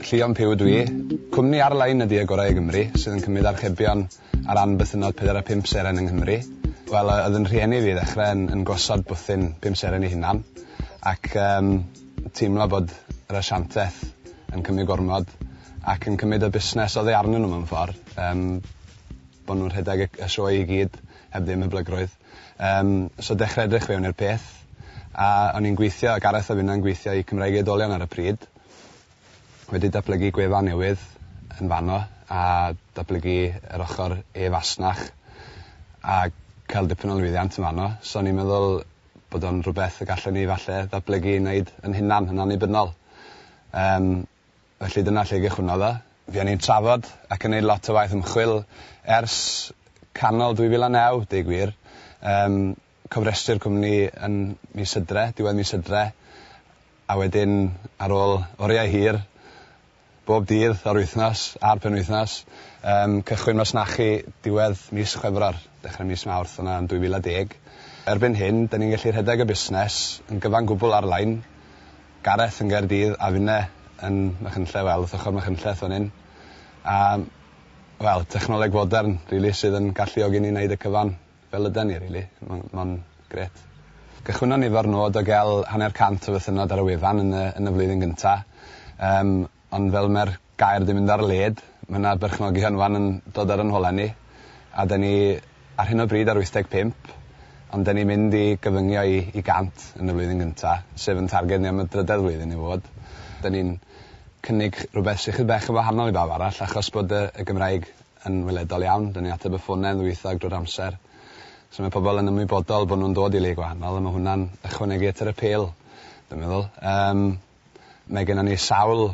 Llion Puw ydw i. Cwmni ar-lein ydy Y Gorau i Gymru, sydd yn cymryd archebion ar ran bythynnod pedair a phump seren yng Nghymru. Wel, yy, oedd yn rhieni fi i ddechrau yn yn gosod bwthyn pum seren ei hunan, ac yym teimlo bod yr asianteth yn cymryd gormod ac yn cymryd y busnes oddi arnyn nhw mewn ffordd, yym bod nhw'n rhedeg y y sioe i gyd heb ddim hyblygrwydd. Yym, so dechre edrych fewn i'r peth. A o'n i'n gweithio, Gareth a finna'n gweithio i Cymraeg i Oedolion ar y pryd. Wedi datblygu gwefan newydd yn fanno a datblygu yr ochr e-fasnach a cael dipyn o lwyddiant yn fanno. So o'n i'n meddwl bod o'n rhywbeth y gallwn ni falle ddatblygu i neud yn hunan, yn annibynnol. Yym. Felly dyna lle gychwynnodd o. Fuon ni'n trafod ac yn neud lot o waith ymchwil ers canol 2009, deu gwir. Yym, cofrestru'r cwmni yn mis Hydre, diwedd mis Hydre, a wedyn ar ôl oriau hir, bob dydd o'r wythnos a'r penwythnos, yym, cychwyn masnachu diwedd mis Chwefror, dechre mis Mawrth, o 'na yn 2010. Erbyn hyn, 'da ni'n gallu rhedeg y busnes yn gyfan gwbl ar-lein, Gareth yn Gaerdydd a finne yn Machynlleth wel wrth ochor Machynlleth fan 'yn a wel technoleg fodern rili sydd yn galluogi ni neud y cyfan fel yden ni rili ma'n ma'n grêt. Cychwynnon ni efo'r nod o ga'l hanner cant o fythynnod ar y wefan yn y yn y flwyddyn gynta yym ond fel ma'r gair di mynd ar led. Ma' 'na berchnogion wan yn dod ar 'yn hola ni a 'da ni ar hyn o bryd ar wyth deg pump ond 'da ni mynd i gyfyngio i i gant yn y flwyddyn gynta sef yn targed ni am y drydedd flwyddyn i fod. 'Da ni'n cynnig rhwbeth sy chydig bach yn wahanol i bawb arall achos bod y y Gymraeg yn weledol iawn 'da ni'n ateb y ffone yn ddwyieithog drwy'r amser so ma' pobol yn ymwybodol bo' nw'n dod i le gwahanol a ma' hwnna'n ychwanegu at yr apêl dwi'n meddwl. Yym mae gennon ni sawl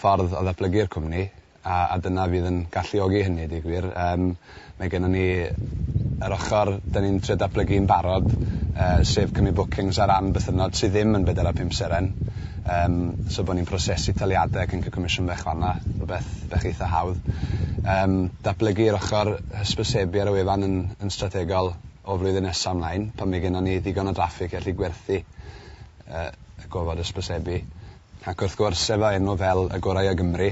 ffordd o ddatblygu'r cwmni a a dyna fydd yn galluogi hynny i deu gwir. Yym mae gennon ni yr ochor 'dan ni'n trio datblygu'n barod yy sef cymryd bookings ar ran bythynnod sy ddim yn bedwar a phump seren yym so bo' ni'n prosesu taliade ac yn ca'l comisiwn bach fan 'na, rwbeth bach eitha hawdd. Yym datblygu yr ochor hysbysebu ar y wefan yn yn strategol o flwyddyn nesa mlaen pan mae gennon ni ddigon o draffig i allu gwerthu yy y gofod hysbysebu. Ac wrth gwrs, efo enw fel Y Gorau o Gymru,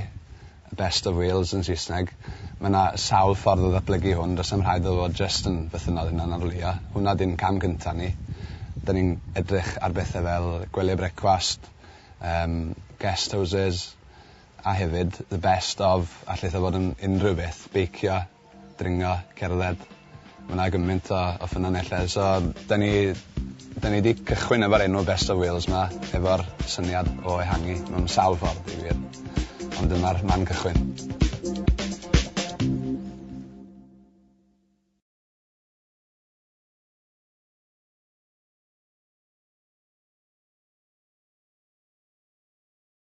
The Best of Wales yn Saesneg, mae yna sawl ffordd o ddatblygu hwn, does na'm rhaid iddo fod jyst yn fythynnod hunanarlwyo. Hwnna 'di'n cam cynta' ni. Dan ni'n edrych ar bethe fel gwely brecwast, yym, guest houses, a hefyd, the best of, allith o fod yn unrhyw beth, beicio, dringo, cerdded. Ma' 'na gymaint o o ffynonellau so 'dan ni 'dan ni 'di cychwyn efo'r enw Best of Wales 'ma efo'r syniad o ehangu mewn sawl ffordd deud y gwir. Ond dyma'r man cychwyn.